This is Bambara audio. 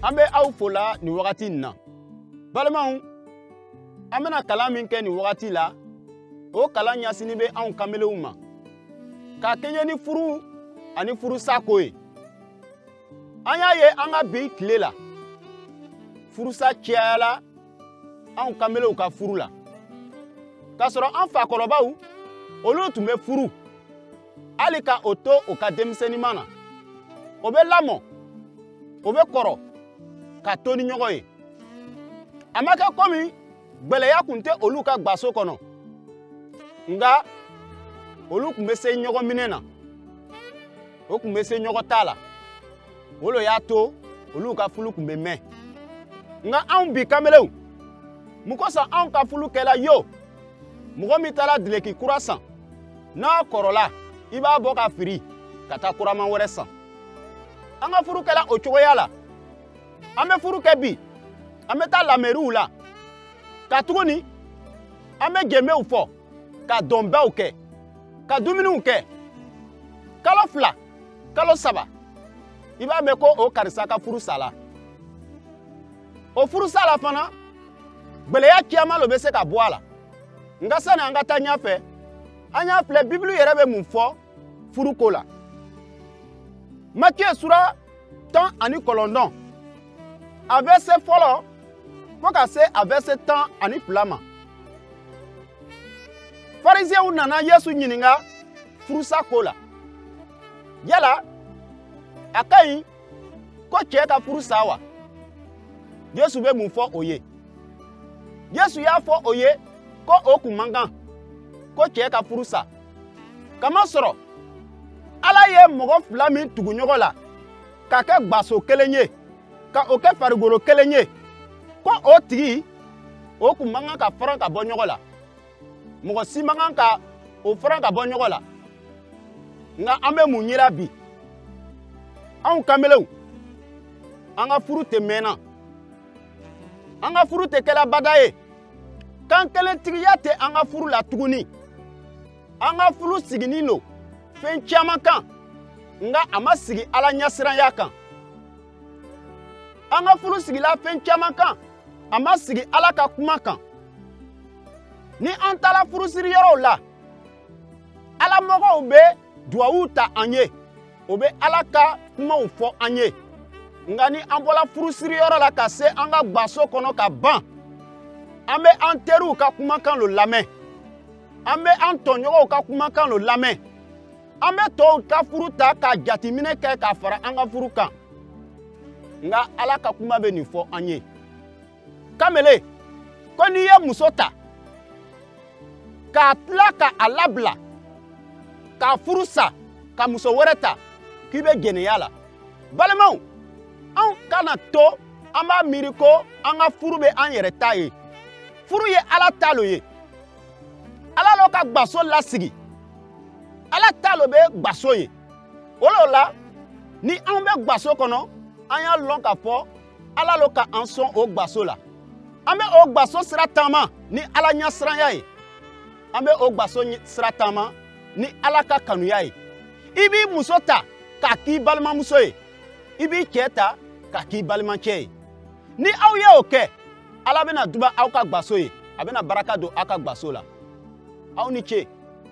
an bɛ aw fo la nin wagati nin na balimaw an bɛna kalan min kɛ nin wagati la o kalan ɲasinnin bɛ anw kanbelenw ma ka kɛɲɛ ni furu ani furusa ko ye an y'a ye an ka bi tile la furusa cayala anw kanbelenw ka furu la k'a sɔrɔ an fakɔrɔbaw olu tun bɛ furu hali ka o to o ka denmisɛnninma na o bɛ lamɔ o bɛ kɔrɔ ka to ni ɲɔgɔn ye a ma kɛ komi gbɛlɛya kun tɛ olu ka gbaso kɔnɔ nka olu kun bɛ se ɲɔgɔn minɛ na o kun bɛ se ɲɔgɔn ta la o lo y'a to olu ka furu kun bɛ mɛn nka anw bi kanbelenw mun kosɔn anw ka furu kɛla yo mɔgɔ min taara dileki kura san n'a kɔrɔla i b'a bɔ ka firi ka taa kuraman wɛrɛ san an ka furu kɛla o cogoya la an bɛ furu kɛ bi an bɛ taa lamɛriw la ka tuguni an bɛ jenbew fɔ ka dɔnbaw kɛ ka dumuniw kɛ kalo fila kalo saba i b'a mɛn ko o karisa ka furu sala o furu sala fana gbɛlɛya caman lo bɛ se ka bɔ a la nka sani an ka taa ɲɛfɛ an y'a filɛ bibulu yɛrɛ bɛ mun fɔ furu ko la matiye sura tan ani kɔlɔndɔn a vɛrise fɔlɔ fo ka se a vɛrise tan ani fila ma fariziyɛnw nana yesu ɲininka furusa ko la yala a ka ɲi ko cɛ ka furu sa wa yesu bɛ mun fɔ o ye yesu y'a fɔ o ye ko o kun man kan ko cɛ ka furu sa kamasɔrɔ ala ye mɔgɔ fila min tugu ɲɔgɔn la ka kɛ gbaso kelen ye ka o kɛ farikolo kelen ye ko o tigi o kun man kan ka faran ka bɔ ɲɔgɔn la mɔgɔ si man kan ka o fara ka bɔ ɲɔgɔn la nka an bɛ mun yira bi anw kanbelenw an ka furu tɛ mɛnna an ka furu tɛ kɛla bada ye kankelentigiya tɛ an ka furu la tuguni an ka furu siginin lo fɛn caman kan nka a ma sigi ala ɲɛsiranya kan an ka furu sigila fɛn caman kan a ma sigi ala ka kuma kan ni an taara furusiri yɔrɔw la ala mɔgɔw bɛ duwawu ta an ye o bɛ ala ka kumaw fɔ an ye nka ni an bɔra furusiri yɔrɔ la ka se an ka gbaso kɔnɔ ka ban an bɛ an teriw ka kumakan lo lamɛn an bɛ an tɔɲɔgɔnw ka kumakan lo lamɛn an bɛ tɔw ka furu ta ka jateminɛ kɛ k'a fara an ka furu kan nka ala ka kuma bɛ nin fɔ an ye kamele ko n'i ye muso ta ka tila ka a labila k'a furu sa ka muso wɛrɛ ta k'i bɛ jɛnɛya la balimaw anw kana to an b'a miiri ko an ka furu bɛ an yɛrɛ ta ye furu ye ala ta lo ye ala lo ka gbaso lasigi ala ta lo bɛ gbaso ye o lo la ni an bɛ gbaso kɔnɔ an y'a lɔn k'a fɔ ala lo ka an sɔn o gbaso la an bɛ o gbaso sira taama ni ala ɲɛsiranya ye an bɛ o gbaso sira taama ni ala ka kanuya ye i b'i muso ta k'a k'i balimamuso ye i b'i cɛ ta k'a k'i balimacɛ ye ni aw ye o kɛ ala bɛna duba aw ka gbaso ye a bɛna baraka don aw ka gbaso la aw ni ce